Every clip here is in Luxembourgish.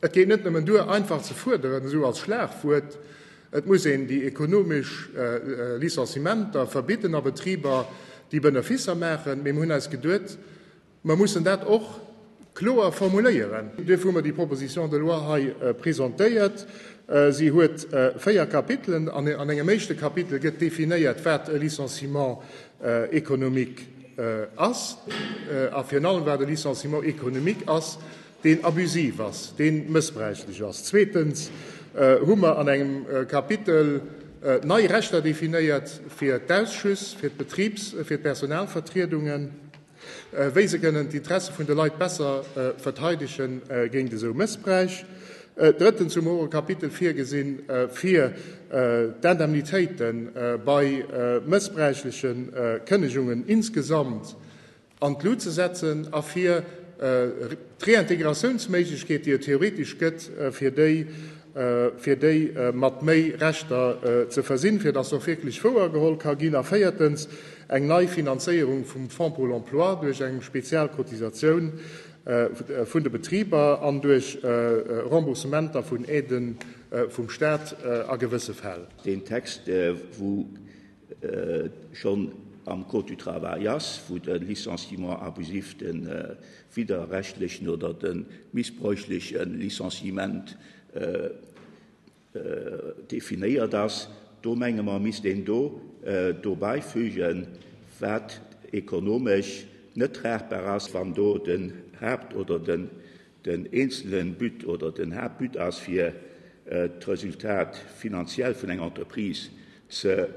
Et geet net nëmmen duer, einfach ze fuerderen, esou als Schlagwuert, et muss een déi ekonomesch Licenciementer verbidden a Betriber, déi Beneficer maachen. Mee mir hunn eis geduet, mer mussen dat och kloer formuléieren. Duerfir hu mer déi Proposition de loi hei presentéiert. Si huet véier Kapitelen. An engem éischte Kapitel gëtt definéiert, wat e Licenciement économique ass a virun allem, wat e Licenciement économique ass, deen abusiv ass, dee mëssbräichlech ass. Zweetens hu mer an engem Kapitel nei Rechter definéiert fir d'Ausschüss, fir d'Betribs-, fir d'Personalvertriedungen, wéi se kënnen d'Interesse vun de Leit besser verteidege géint esou Mëssbräich. Drëttens hu mer och e Kapitel virgesi fir d'Indemnitéite bei mëssbräichleche Kënnegungen insgesamt. an d'Lut ze setzen a fir d'Reintégratiounméiglechkeet, déi et theoretesch gëtt, fir déi fir déi mat méi Rechter ze versinn, fir dass se och wierklech wouergeholl ka ginn, a véiertens eng nei Finanzéierung vum Fonds pour l'emploi duerch eng spezial Cotisatioun vun de Betriber an duerch Remboursementer vun Aiden vum Stat a gewësse Fäll. Deen Text, wou et schonn am Code du travail ass, wou de Licenciement abusif, de widderrechtlechen oder de missbräuchleche Licenciement definéiert ass, do menge mer, misst een do dobäi fügen, wat ekonomesch net tragbar ass, wann do den Haupt oder den Den eenzelen But oder den Haaptbut ass fir d'Resultat finanziell vun enger Entreprise ze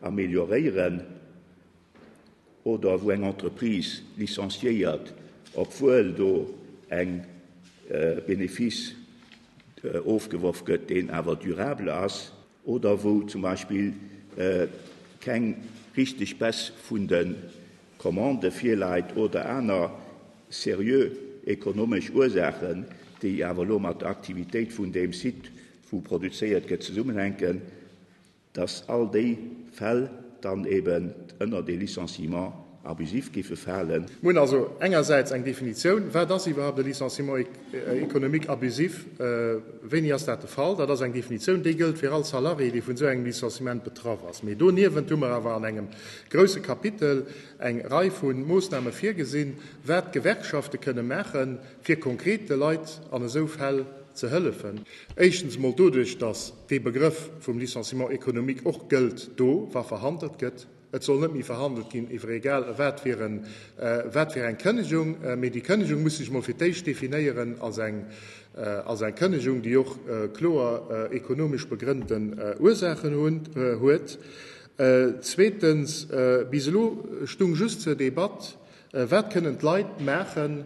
amelioréieren oder wou eng Entreprise licenciéiert, obwuel do eng Benefice ofgeworf gëtt, deen awer durabel ass. oder wou zum Beispill keng richteg Baisse vun de Commandë virläit oder aner seriö ekonomesch Ursaachen, déi awer elo mat der Aktivitéit vun deem Site, wou produzéiert gëtt, zesummenhänken, dass all déi Fäll dann eeben ënnert ee Licenciement abusif géife falen. Mir hunn also engersäits eng Definitioun, wat ass iwwerhaupt e Licenciement économique abusif, wéini ass dat de Fall. Dat ass eng Definitioun, déi gëllt fir all Salarié, dee vun esou engem Licenciement betraff ass. Mee doniewent hu mer awer an engem grouse Kapitel eng Rei vu Moossname virgesinn, wat d'Gewerkschafte kënne maachen, fir konkret de Leit an esou Fäll ze hëllefen. Éischtens emol doduerch, datt dee Begrëff vum Licenciement économique och gëllt do, wa verhandelt gëtt. Et soll net méi verhandelt ginn iwwer egal wat fir eng Kënnegung, mee déi Kënnegung muss sech emol fir d'éischt definéieren als eng als eng Kënnegung, déi och kloer ekonomesch begrënnten Ursaachen huet. Zweetens, bis elo stung just zur Debatt, Wat kënnen d'Leit maachen,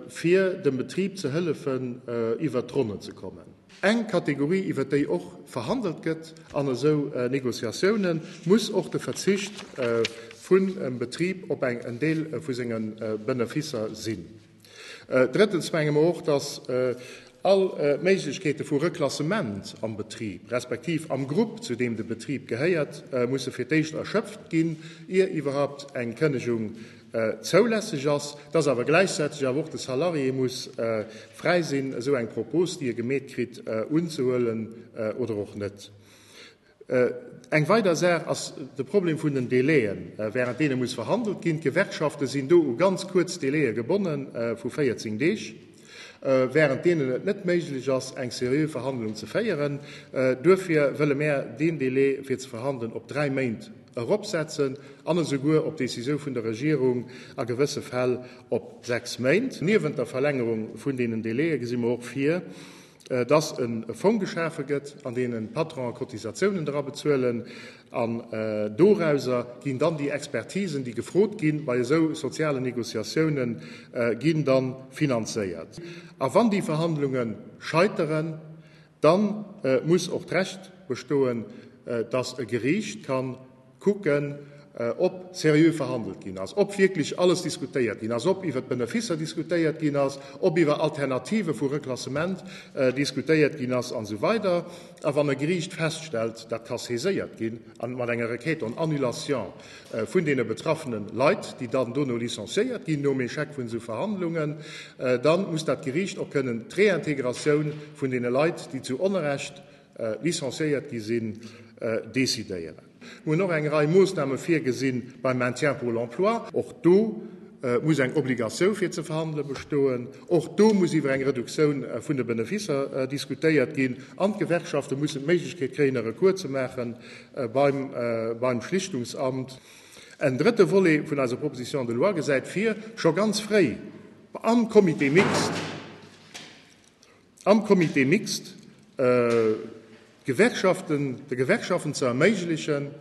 fir dem Betrib ze hëllefen iwwert d'Ronnen ze kommen. Eng Kategorie iwwert déi och verhandelt gëtt an esou Negociatiounen, muss och de Verzicht vun em Betrib op eng en Deel vu senge Benefisser sinn. Drëttens menge mer och, dass all Méiglechkeete vu Reklassement am Betrib, respektiv am Grupp zu deem de Betrib gehéiert, musse fir d'éischt erschöpft ginn, ier iwwerhaupt eng Kënnegung zoulässeg ass, dass awer gläichzäiteg awer och de Salarié muss fräi sinn, esou eng Propos, déi e gemeet kritt, unzehuelen oder och net. Eng weider Saach ass de Problem vun den Délaien, während deene muss verhandelt ginn. D'Gewerkschafte sinn do u ganz kuerz Délaie gebonnen, vu 14 Deeg. während deenen et net méiglech ass, eng seriö Verhandlung ze féieren. Duerfir wëlle mär deen Delai, fir ze verhandelen, op dräi Méint eropsetzen an esouguer, op Décisioun vun der Regierung, a gewësse Fäll op sechs Méint. Niewent der Verlängerung vun deenen Délaië gesi mer och vir, dass e Fong geschafe gëtt, an deen d'Patronen Cotisatiounen dra bezuelen, an dorauser ginn dann déi Expertisen, déi gefrot gi bei esou sozialen Négociatiounen, ginn dann finanzéiert. A wann déi Verhandlunge scheiteren, dann muss och d'Recht bestoen, dass e Geriicht kann, kucken, ob seriö verhandelt ginn ass, ob wierklech alles diskutéiert ginn ass, ob iwwert d'Beneficer diskutéiert ginn ass, ob iwwer Alternative vu Reklassement diskutéiert ginn ass an esou weider A wann e Geriicht feststellt, dat ka saiséiert ginn an mat enger Requête en annulation vun deene betraffene Leit, déi dann dono licenciéiert ginn nom Échec vun esou Verhandlungen, da muss dat Geriicht och kënnen d'Réintégratioun vun deene Leit, déi zu Onrecht, licenciéiert gi sinn, decidéieren. Mir hunn och eng Rei Moosname virgesi beim Maintien pour l'emploi. Och do muss eng Obligatioun fir ze verhandele bestoen. Och do muss iwwer eng Reduktioun vun de Benefisser diskutéiert ginn. An d'Gewerkschafte mussen d'Méiglechkeet kréien, e Recours ze maache beim Schlichtungsamt. En drëtte Volet vun eiser Proposition de loi gesäit vir, scho ganz fréi am Comité mixte, Am Comité mixte Gewerkschaften, de Gewerkschaften ze erméiglechen,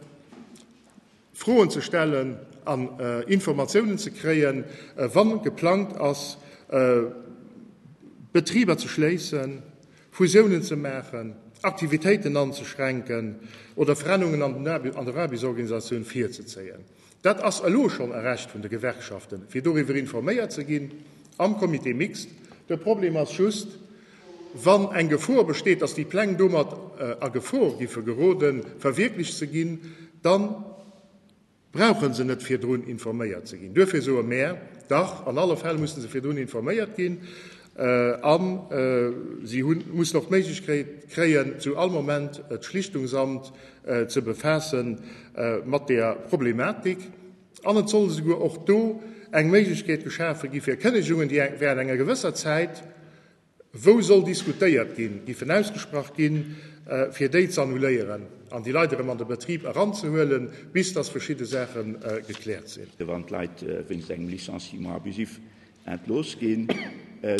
Froen ze stellen an Informatiounen ze kréien, wa geplangt ass, Betriber ze schléissen, Fusiounen ze maachen, Aktivitéiten anzeschränken oder Verännerungen an der Aarbechtsorganisatioun virzezéien. Dat ass elo schonn e Recht vun de Gewerkschaften, fir doriwwer informéiert ze ginn am Comité mixte. De Problem ass just, Wann eng Gefor besteet, dass déi Pläng domat a Gefor géife geroden, verwierklecht ze ginn, da brauche se net virdrun informéiert ze ginn. Duerfir soe mär, Dach, an alle Fäll musse se virdrun informéiert ginn a si mussen och d'Méiglechkeet kréien, zu all Moment d'Schlichtungsamt ze befaasse mat där Problematik an et soll esouguer och do eng Méiglechkeet geschafe gi fir Kënnegungen, déi während enger gewësser Zäit, wou soll diskutéiert ginn, géifen ausgesprach ginn, fir déi z'annuléieren an déi Leit erëm an de Betrib eranzehuelen, bis dass verschidde Saache gekläert sinn. Wann d'Leit wéinst engem Licenciement abusif Ent looss ginn.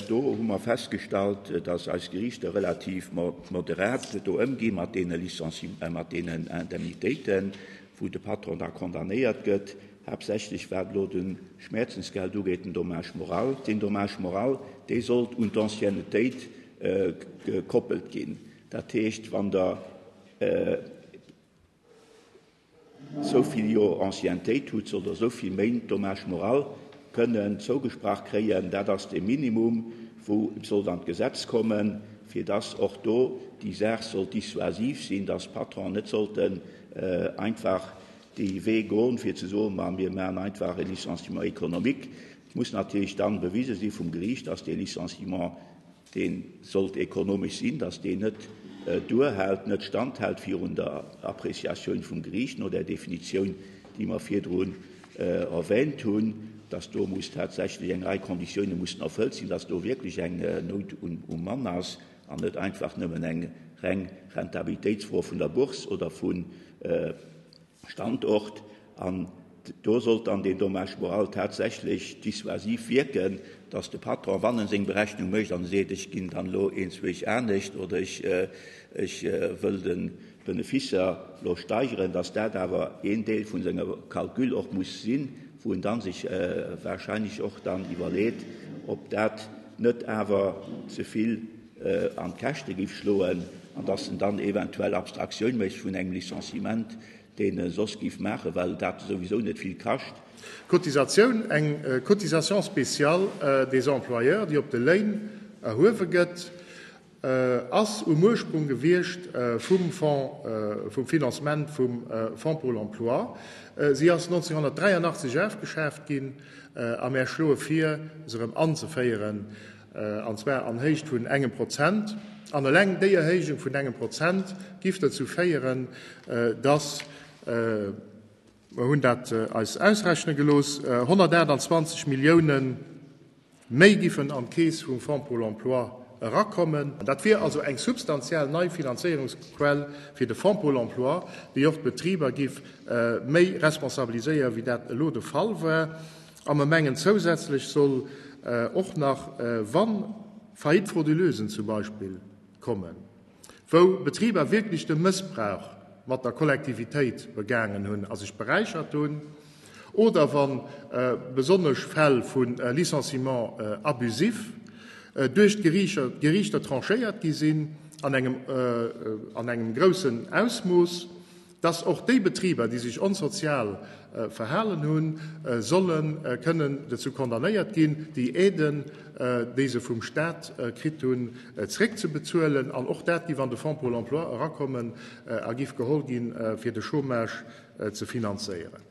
Do hu mer festgestallt, dass eis Geriichter relativ moderat do ëmgi mat deene Licenciementen, mat deenen Indemnitéiten, wou de Patron da condamnéiert gëtt, haaptsächlech wat elo de Schmäerzensgeld ugeet, den Dommage moral. Deen Dommage moral, dee sollt un d'Anciennetéit gekoppelt ginn. Dat heescht, wann Der, Esou vill Joer Anciennetéit hutt se, oder esou vill Méint Dommage moral kënnen zougesprach kréien. Dat ass dee Minimum, wou et sollt an d'Gesetz kommen, fir dass och do déi Saach soll dissuasiv sinn, dass d'Patronen net sollten einfach dee Wee goen, fir ze soen, ma mir maachen einfach e Licenciement économique. Et muss natierlech dann bewise si vum Geriicht, dass dee Licenciement, Dee sollt ekonomesch sinn, datt deen net duerhält, net standhält virun der Appréciatioun vum Geriicht no där Definitioun, déi mer virdrun erwähnt hunn, datt do muss tatsächlech eng Rei Konditioune mussen erfëllt sinn, datt do wierklech eng Nout um Mann ass an net einfach nëmmen eng reng Rentabilitéitsfro vun der Bourse oder vu Standort, an do sollt dann deen Dommage moral tatsächlech dissuasiv wierken, dass de Patron, wann en seng Berechnung mécht an e seet, ech ginn dann elo eens Week anescht oder ech wëll de Benefice elo steigeren, dass dat awer een Deel vu sengem Calcul och muss sinn, wou en da sech wahrscheinlech och dann iwwerleet, ob dat net awer ze vill. an d'Käschte géif schloen an datt en dann eventuell Abstraktioun mécht vun engem Licenciement, deen e soss géif maachen, well dat souwisou net vill kascht. Cotisatioun, eng Cotisation spéciale des employeurs, déi op de Léin erhuewe gëtt, ass um Ursprung gewiescht vum Fonds, vum Financement vum Fonds pour l'emploi. Si ass 1983 afgeschaaft ginn a mär schloe vir, se erëm anzeféieren. an zwar an Héicht vun engem Prozent, an eleng déi Erhéijung vun engem Prozent giff dozou féieren, dass, mer hunn dat eis ausrechne gelooss, 128 Millioune méi giffen an d'Keess vum Fonds pour l'emploi erakommen. Dat wier also eng substantiell nei Finanzéierungsquell fir de Fonds pour l'emploi, déi och d'Betriber giff méi responsabiliséieren, wéi dat elo de Fall war. A mer mengen, zousätzlech soll och nach, wa Faillite frauduleusen zum Beispill kommen, wou Betriber wierklech de Mëssbrauch mat der Kollektivitéit begaangen hunn a sech beräichert hunn, oder wa besonnesch Fäll vu Licenciement abusif duerch d'Geriichter tranchéiert gi sinn an engem groussen Ausmooss, dass och déi Betriber, déi sech onsozial verhalen hunn, solle kënnen dozou condamnéiert ginn, déi Aiden, déi se vum Stat kritt hunn, zréckzebezuelen. An och dat giff an de Fonds Pôle emploi erakommen a giff geholl ginn, fir de Chômage ze finanzéieren.